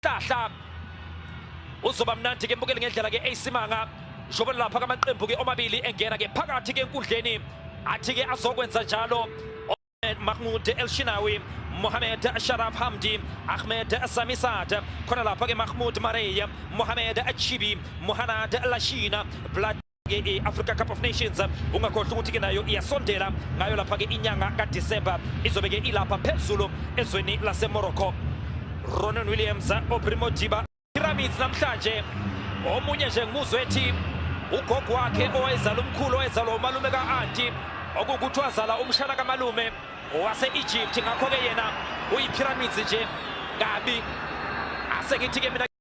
Hlahla uzoba mnandi ke mbukeli ngendlela ke AC Manga njengoba lapha kamaqembu ke omabili engena ke phakathi ke enkundleni athi ke azokwenza njalo Mahmoud El Shinawi Mohamed Sharaf Hamdi Ahmed Samisad khona lapha ke Mahmoud Marey Mohamed Achibi Mohanad Lashina Vlad i-africa cup of nations ungakhohlwa ukuthi-ke nayo iyasondela ngayo lapha-ke inyanga kadisemba izobe-ke ilapha phezulu ezweni lasemorocco ronan williams obrimo diba pyramids namhlanje omunye nje ngimuzwe ethi ugogo wakhe owayezala umkhulu owayezalwa umalume ka-anti okuwukuthi wazala umshana kamalume wase-egypt ngakho-ke yena uyipyramids nje kabi asengithi-ke mina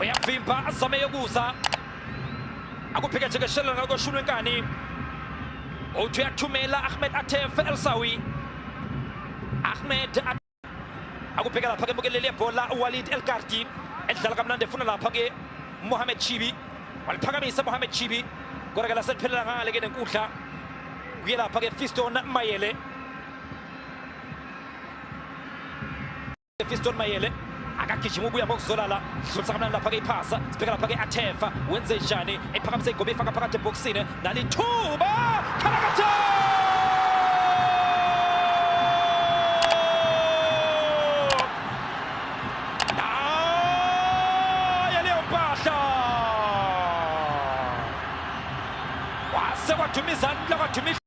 uyavimba azame yokuza akuphikethekeshelana nakoshunwe nkani uthi uyathumela ahmed atef elsawi ahmed akubheka lapha ke mukeleli yebhola uwalid elgardi edlala kamnandi efuna lapha ke mohamed chibi waliphakamisa mohamed chibi kodwa ke laseliphelela ngale ke nenkundla kuye lapha ke fiston mayele Fiston Mayele akagijima ubuya ngokuzolala dlulisa kamnani lapha-ke iphasa sibheka lapha-ke athefa wenze njani ephakamisa igome ifaka phakathi ebhokisini nalithuba khalakatha Jimmy Zandler, Jimmy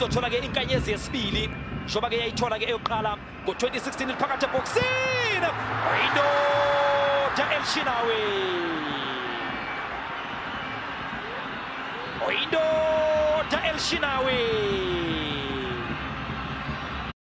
izothola ke inkanyezi yesibili njengoba ke yayithola ke eyokuqala ngo-2016 liphakathi ebhokisini oyindoda elishinawe oyindoda elishinawe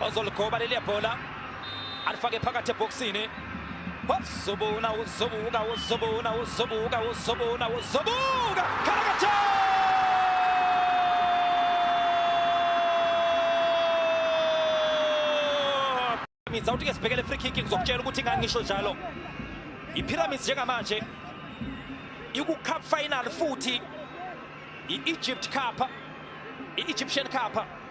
ozoligoba leliya bhola alifake phakathi ebhokisini wazobona uzobuka uzobona uzobuka uzobona uzobuka khalakatheni pyramids awuthi ke sibhekele free kick ngizokutshela ukuthi ngangisho njalo ipyramids njengamanje iku-cup final futhi i-egypt cup i-egyptian cup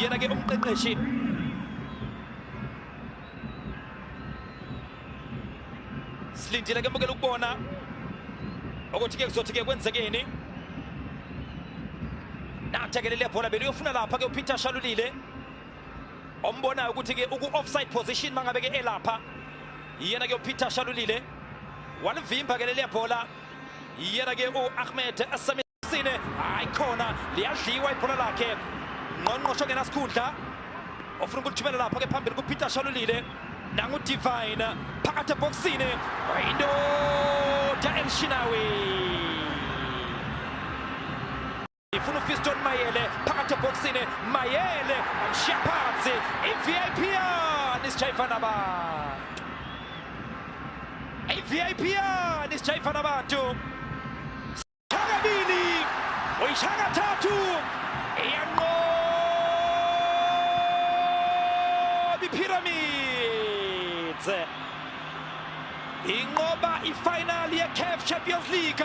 yena ke umqeqeshi silindile ke mukela ukubona ukuthi ke kuzothi ke kwenzekeni nathekelele bhola beliyofuna lapha ke upeter shalulile ombonayo ukuthi ke uku-offside position mangabe ke elapha yena ke upeter shalulile walivimba ke leliya bhola yena ke u-ahmed Sine hayi khona liyadliwa ibhola lakhe ngqongqosho ngenasikhundla ofuna ukulithumela lapho ke phambili kuPeter Shalulile nangu Divine phakathi ebhoksini into ya El Shinawi ifuna uFiston Mayele phakathi ebhoksini Mayele amshiya phansi iVIP yani sijayifana ba iVIP yani sijayifana abantu Chakabini uyishaka thathu iyanqoba iPyramids inqoba ifinal yeCAF Champions League